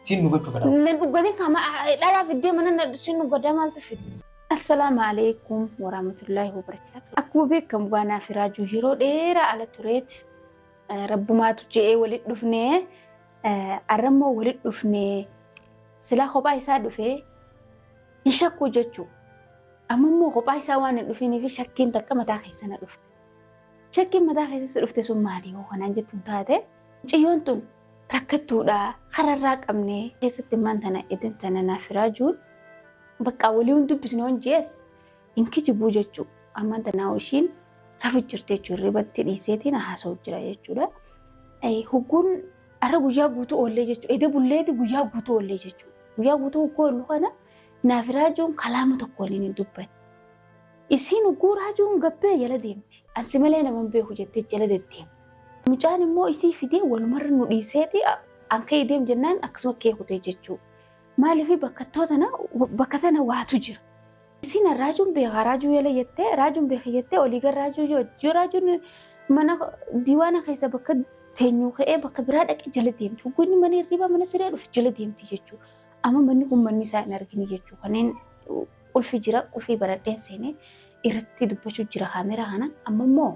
Siin nu gochuu fedha. Nan dhugatin kama dhala fiddee mana na sin dhugada maaltu fidde. Assalaamu alaikum warahmatullaahi wabarakaatu. Akkuma beekamu baanaa fi raajuu yeroo dheeraa ala tureeti. Rabbumaatu je'ee walit dhufnee arrammoo walit dhufnee silaa kophaa isaa dhufee hin shakkuu jechuu. Amma immoo kophaa isaa waan hin dhufiniif shakkiin takka mataa keessa na dhufte. Shakkiin mataa keessatti dhufte sun maali yoo kanaan jettuun taate ciyyoon tun rakkattuudha kararraa qabnee keessatti maan tana edan tana naaf firaajuun baqqaa walii hin dubbisne on jees hin kijibuu jechuu ammaan tanaa ishiin rafu jirti jechuu irribatti dhiiseetiin haasa'u jira jechuudha. Hugguun har'a guyyaa guutuu oollee jechuudha. Eda bulleeti guyyaa guutuu oollee jechuudha. Guyyaa guutuu hugguu oollu kana naaf raajuun kalaama tokko waliin hin dubbanne. Isiin hugguu raajuun gabbee jala deemti. Ansi malee nama hin beeku jettee jala deddeemti. Mucaan immoo isii fidee walumarra nu dhiiseeti an ka'ee deem jennaan akkasuma kee kutee jechuu. Maaliif bakkattuu tana bakka tana waatu jira. Isin raajuun beekaa raajuu yala jettee raajuun beeka jettee olii gara raajuu yoo yoo raajuun mana diiwaana keessa bakka teenyuu ka'ee bakka biraa dhaqee jala deemti. Hoggoonni mana hirriibaa mana siree dhufe jala deemti jechuudha. Amma manni kun manni isaa hin argine jechuudha. Kanneen qulfi jira qulfii baradheen seenee irratti dubbachuu jira kaameraa kana amma immoo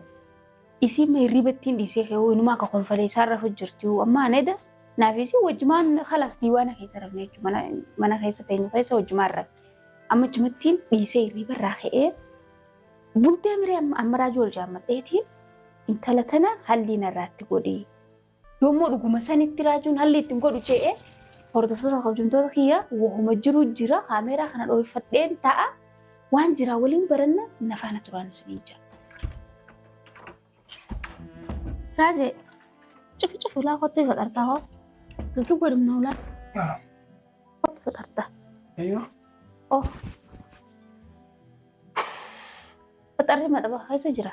Isiin ma hirriba ittiin dhiisee kee hoo inumaa ka konfalee isaan rafu jirti hoo ammaa neda naaf isiin wajjumaan kalaas diiwaana keessa rafne jechuudha mana mana keessa teenyu keessa wajjumaan rafne amma achumattiin dhiisee hirriba irraa ka'ee bultee miree amma amma raajuu ol jaammadheetiin intala tana halliin irraatti godhii Yommuu dhuguma sanitti raajuun halli ittiin godhu ce'e hordoftoota kabajamtoota kiyya wahuma jiru jira kaameeraa kana dhoofadheen ta'a waan jiraa waliin baranna na faana turaan isiniin jira. Raajee cufu cufu laa kottu ifa xartaa hoo gaggi godhumna ulaa kottu ifa xartaa. Oh. Faxarri maxaba keessa jira.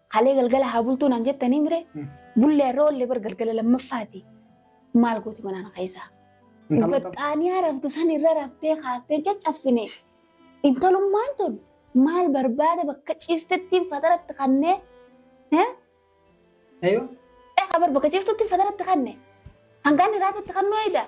Kalee galgala haa bultuu naan jettanii mire bullee irra oollee bar galgala lammaffaati maal gooti manaan keessaa. Baxxaaniyaa raftu san irra raftee kaaftee caccabsine intalummaan tun maal barbaada bakka ciistettiin fataratti kannee Eeyyuu. eegaa bar bakka ciiftutti fataratti kanne hangaan irraatti kannoo eegaa.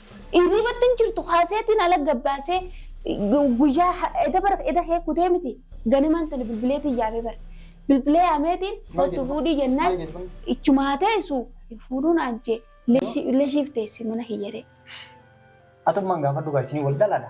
Iriibatti hin jirtu kaaseetiin ala gabbaasee guyyaa eda bar eda kee kutee miti ganimaan tani bilbileetiin yaamee bar bilbilee yaameetiin kottu fuudhii jennaan ichumaa teessu hin fuudhuun aanjee illee shiif teessi mana kiyyaree. Atummaan gaafadhu gaa isin wal dhalaadha.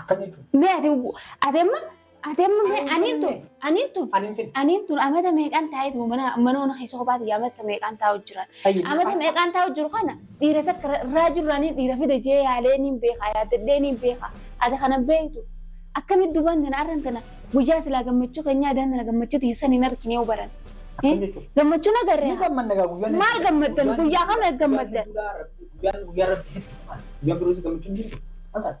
Akkam jechuun? Mee ati ati amma ati amma mee aniin tun aniin tun Aniin fedhe. aniin tun amata meeqaan taa'eetu mana manoona keessa kophaati amata meeqaan taa'u jiran. Ayyi. Amata meeqaan taa'u jiru kana dhiira takka irraa jirranii dhiira fida jee yaalee niin beekaa yaadadhee niin beekaa ati kana beektu. Akkamitti duubaan tana arran tana guyyaa silaa gammachuu keenyaa daan tana gammachuu tiisan hin argine yoo baran. Akkam jechuun? Gammachuu na garree. Ni gammadna gaa guyyaan. Maal gammaddan? Guyyaa kam eeggammaddan? Guyyaan guyyaa rabbi hedduu. Guyyaa biroos gammachuun jirtu. Maal taate?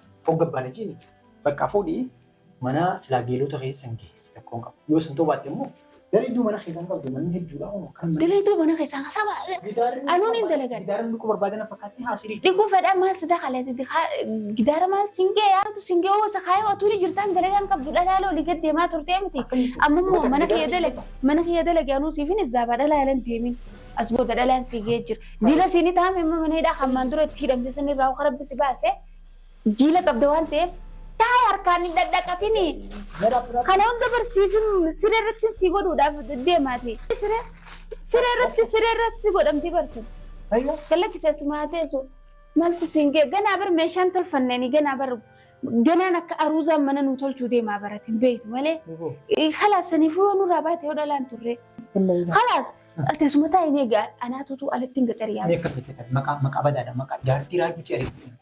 Hogga abbaan ajiini bakka fuudhii manaa silaa geelota keessan geessi rakkoon qabu. Yoo san toobaatte immoo dalayduu mana keessan qabdu manni hedduudha hono kan manni. Dalayduu mana keessan saba anuun hin dalagan. Gidaara dhukuu barbaadana fakkaatti haasirii. Dhikuu fedhaa maal sidaa kaleeti gidaara maal singee yaatu singee wasa kaayoo atuuni jirtaan dalagaan qabdu dhalaala olii gad deemaa turtee miti. Amma immoo mana kiyya dalag mana kiyya dalag yaanuu siifin izzaabaa dhalaalan deemin. As booda dhalaan siigee jira. Jila siinii taa'ame amma mana hidhaa hammaan dura itti hidhamte sanirraa hoka rabbi si baasee. Jiila qabda waan ta'eef taa'e harkaan hin dhadhaqatini. Kana hunda barsiifin siree irratti si godhuudhaaf deemaati. Siree siree irratti siree irratti godhamti bartu. Gallakki seesumaa teessu maaltu siin ga'e ganaa bar meeshaan tolfanneen ganaa bar ganaan akka aruuzaan mana nuu tolchuu deemaa barati beektu malee. Kalaas saniifuu yoo nurraa baate yoo dhalaan turre. Kalaas Teessuma taa'e ni egaa anaatutu alatti hin gaxariyaa. Mee akka fete kan maqaa maqaa badaadha maqaa jaartii raajuu cee ariifatu.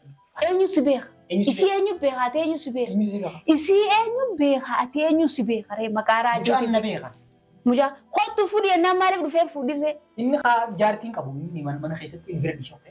Eenyu si beeka? Eenyu si Isii eenyu beeka? Ati eenyu si beeka? Eenyu si beeka? Isii eenyu beeka? Ati eenyu si beeka? Ree maqaa Mucaan raajuuti. na beeka. Mucaa kottu fudhi ennaan maaliif dhufee fuudhirree? Inni haa jaartiin qabu inni mana mana keessatti hin bira bishoofte.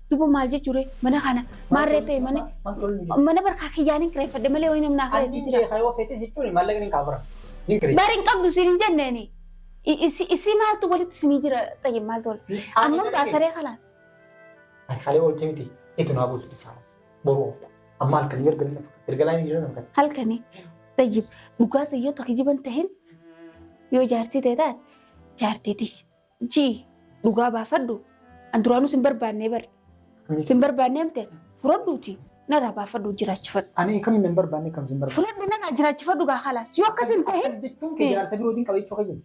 Duba maal jechuure mana kana maarree ta'e mana mana barkaa kiyyaan hin kireeffadhe malee wayii namni akka eessi jira. Yoo feetes jechuun maallaqni hin kaafura. Hin kireessa. Bari hin qabdu siin hin jenneeni. Isii maaltu walitti isinii jira xayyib maaltu wal. Amma baasaree kalaas. Ani kalee wal timti itti naa buusu isaa. Boruu oofta. Amma halkan hin erga nama. Erga laa hin jira nama. Halkani xayyib dhugaa sayyoo tokko jiban tahin yoo jaartii ta'e taate jaartii tish G. Dhugaa baafadhu. An duraanuu sin barbaannee bari. Akkamitti? Sin barbaannee mite furadhuuti narraa baafadhu jiraachifadhu. Ani akkamiin nan barbaanne akkam sin barbaanne. Furadhu narraa jiraachifadhu gaa kalaas. Yoo akkas hin ta'in Akkas jechuun kee jaarsa birootiin qabachuu kee jedhu.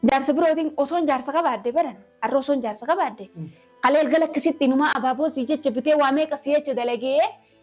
jaarsa birootiin osoon jaarsa qabaadde baran har'a osoon jaarsa qabaadde Mm. kaleel gala akkasitti inumaa abaaboo sii jecha bitee waa meeqa sii jecha dalagee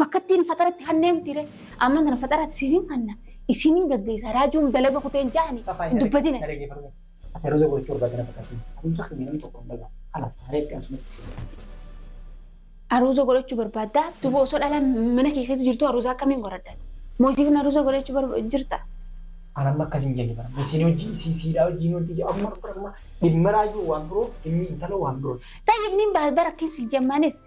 Bakkattiin faxaratti kannee mitiire amman tana faxaratti siifin kanna isiniin gaggeessa raajuun dalaga kuteen jaani hin dubbatin ati. Feruza gochuu barbaadde na fakkaatti. Adeemsa keenya namni tokko hin dhagahu. Kanaaf haala itti ansumatti si Aruuza godhachuu barbaadda duba osoo dhala mana kee keessa jirtu aruuza akkamiin godhadha? Moo isiifin aruuza godhachuu barba- jirta? An amma akkas hin jenne bara. Isin hojii isin siidhaa hojiin wanti jedhu amma amma dhimma raajuu waan biroo dhimmi intala waan biroo. Tayyib nin baas bara akkin si jammaanis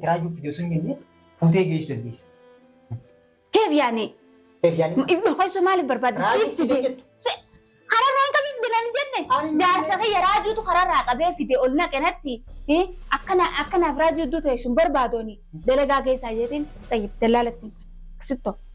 Kiraayyuu fidee sun jennee fuutee geessu dandeessa. Keef yaani. Keef yaani. Ibnu keessoo maaliif barbaadde? Raajuu Siif fidee fide. jettu. Si- Kararraa hin qabiif dinan jenne. Ani- Jaarsa kiyya raajuutu kararraa qabee fide ol naqe natti. Eh, Akkana akkanaaf raajuu iddoo ta'e sun barbaadooni. Dalagaa keessaa jeetiin xayyib dallaalatti. Sittoo.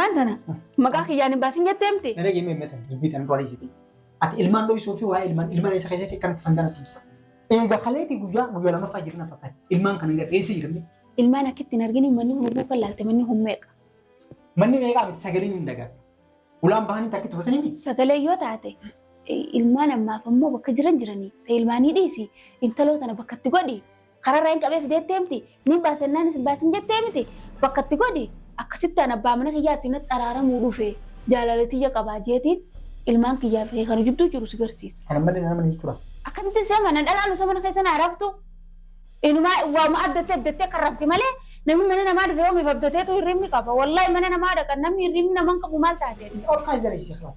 Maal tana? Maqaa kiyyaan hin baasin jettee miti? Gara geemee meetan dubbii tan qorii sitti. Ati ilmaan dho'isuu fi waa'ee ilmaan ilmaan isa keessatti kan dhufan kana tumsa. Eega kaleeti guyyaa guyyaa lamaffaa jirna fakkaata. Ilmaan kana gara eessa jiramne? Ilmaan akkitti hin argine manni hubuu kan laalte manni hummeeqa. Manni meeqaa miti sagaleen hin dagaatu. Ulaan bahanii takkitti basanii miti. Sagalee yoo taate ilmaan ammaaf ammoo bakka jiran jiranii ta'e ilmaanii dhiisi intaloo tana bakkatti godhi. Kararraa hin qabee fideettee miti ni baasennaan isin baasin jettee miti bakka itti godhi akkasitti an abbaa mana kiyyaa itti natti araaramuu dhufe jaalala tiyya qabaa jeetiin ilmaan kiyyaa fi kana jidduu jiru si garsiisa. Kana malee nama ni jira. Akkamitti si amana dhalaan osoo mana keessa naa raftu inumaa waama abdattee abdattee kan rafti malee namni mana namaa dhufe yoomiif abdateetu hirribni qaba wallahi mana namaa dhaqan namni hirribni naman qabu maal taatee. Orkaa jala isii kalaaf.